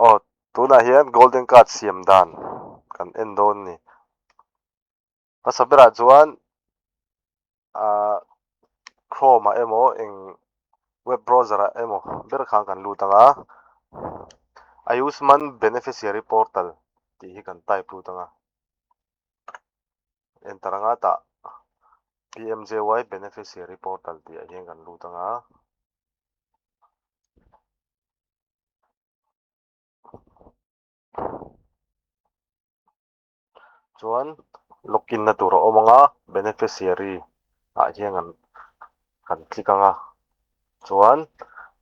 aw tunah hian golden card siam dan kan en dawn a ni hmasa berah chuan ahh chrome ah emaw eng web browser ah emaw ber khan kan lut ang a ayushman beneficiary portal tih hi kan type lut ang a enter anga tah pmjjwai beneficiary portal tih ah hian kan lut ang a. chuan login na tur a awm ang a beneficiary ah hian kan kan click ang a chuan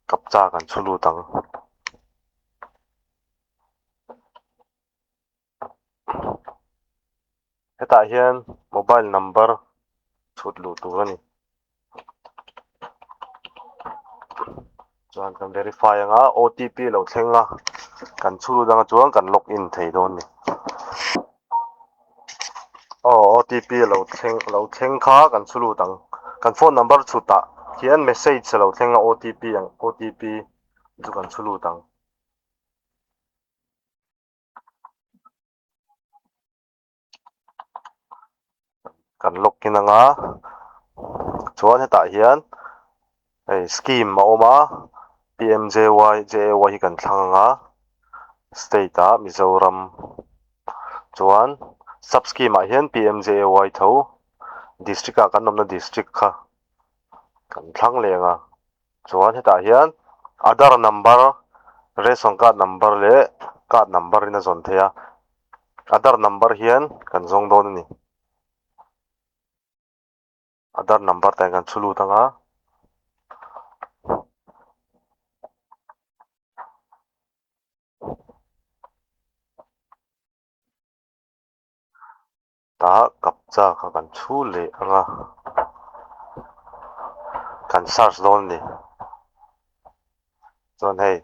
captcha kan chhu lut ang. hetah hian mobile number chhut luh tur a ni chuan kan verify ang a o t p lo thleng a kan chhu lut ang a chuan kan log in thei dawn a ni aw o t p lo thleng lo thleng kha kan chhu lut ang kan phone number chhutah hian message alo thleng a o t p ang o t p chu kan chhu lut ang. kan lock in anga chuan hetah hian hei scheme a awm a p m j y j a y hi kan thlang ang a state ah mizoram chuan sub scheme ah hian p m j a y tho district ah kan awmna district kha kan thlang leh ang a. Chuan hetah hian Aadhar number, Ration card number leh card number in a zawn thei a, Aadhar number hian kan zawng dawn a ni. Aadhar number tah hian kan chhu lut ang a. Tah kap chak a kan chhu leh anga kan search dawn a ni chuan hei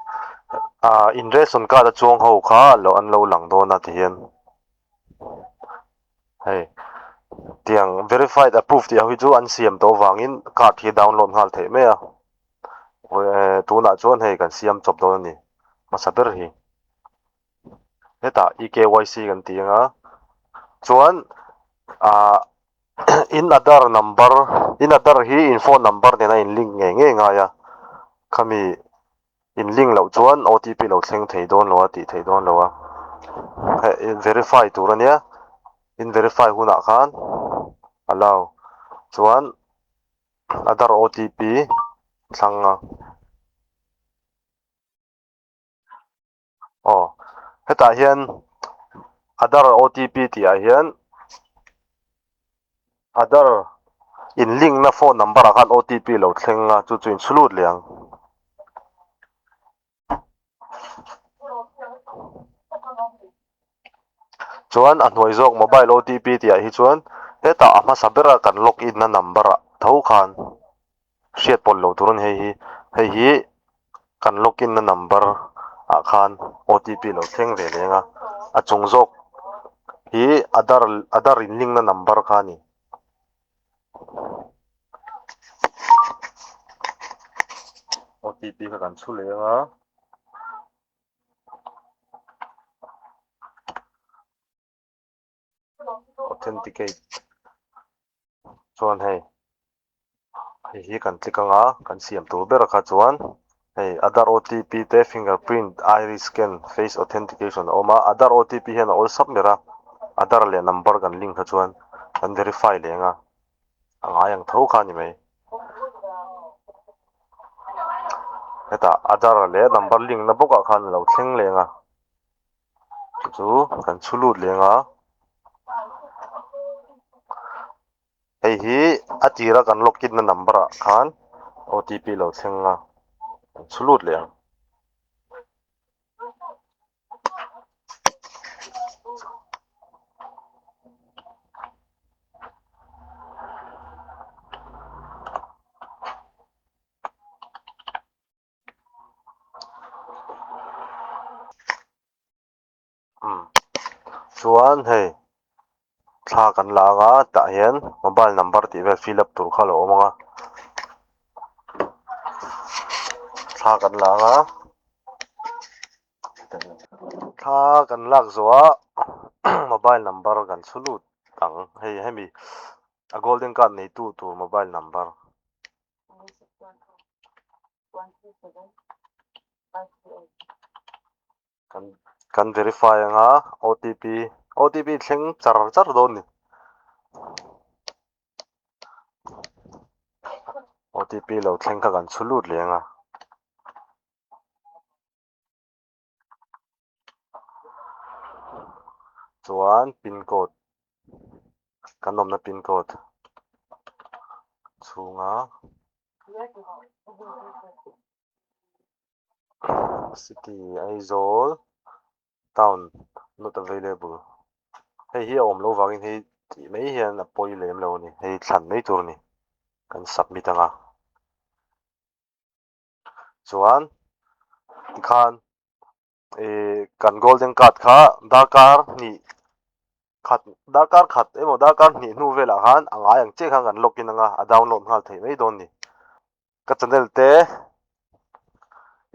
ah in ration card a chuang ho kha lo an lo lang dawn a tihian hei tiang verified approved tih ho hi chu an siam tawh avangin card hi download nghal theih mai a tunah chuan hei kan siam chawp dawn a ni hmasa ber hi. hetah eKYC kan tih anga chuan ah in aadhar number in aadhar hi in phone number nen a inlink ngei ngei ngai a khami inlink loh chuan otp lo thleng thei dawn lo a tih theih dawn lo a heh in verify tur ania in verify hunah khan allow chuan aadhar otp thlang a. aw hetah hian adar otp tih ah hian adar in link na phone number ah khan otp lo thleng a chu chu in chhu lut leh ang chuan a hnuai zawk mobile otp tih ah hi chuan hetah a hmasa ber a kan login na number ah tho khan. Hriat pawlh lo tur a ni hei hi. Hei hi kan log in na number ah khan OTP lo thleng ve leng a. A chung zawk hi Aadhar Aadhar in link na number kha a ni. OTP kha kan chhu leng a. authenticate chuan hei hei hi kan click anga kan siam tur bera kha chuan hei aadhar OTP te finger print iris scan face authentication a awm a aadhar OTP hian a awl sap ber a aadhar leh number kan link kha chuan kan verify leh anga a ngai ang tho kha a ni mai hetah aadhar leh number link na bawkah khan a lo thleng leh anga. Kei chu kan chhu lut leh nga hei hi a tir a kan lock in na number ah khan otp lo thleng nga kan chhu lut leh ang. Chuan hei thla kan la anga tah hian mobile number tih vel fill up tur kha lo awm ang a thla kan la anga thla kan lak zawha mobile number kan chhu lut ang hei hemi a golden card neitu tur mobile number. Kan verify ang a otp otp thleng char char dawn ni otp lo thleng kha kan chhu lut leh ang a. chuan pin code kan awmna pin code chhunga city aizawl town not available hei hi a awm lo vangin hei tih mai hian a pawi lem lo a ni hei thlan mai tur a ni kan submit anga. chuan tikhan kan golden card kha darkar hnih khat darkar khat emaw darkar hnih hnu velah khan a ngai ang chiah khan kan login anga a download nghal thei mai dawn a ni ka channel te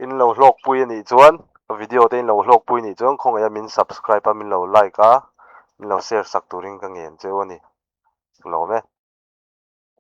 in lo hlawkpui a nih chuan ka video te in lo hlawkpui a nih chuan khawngaihah min subscribe a min lo like a min lo share sak turin ka ngen cheu a ni rilawm e.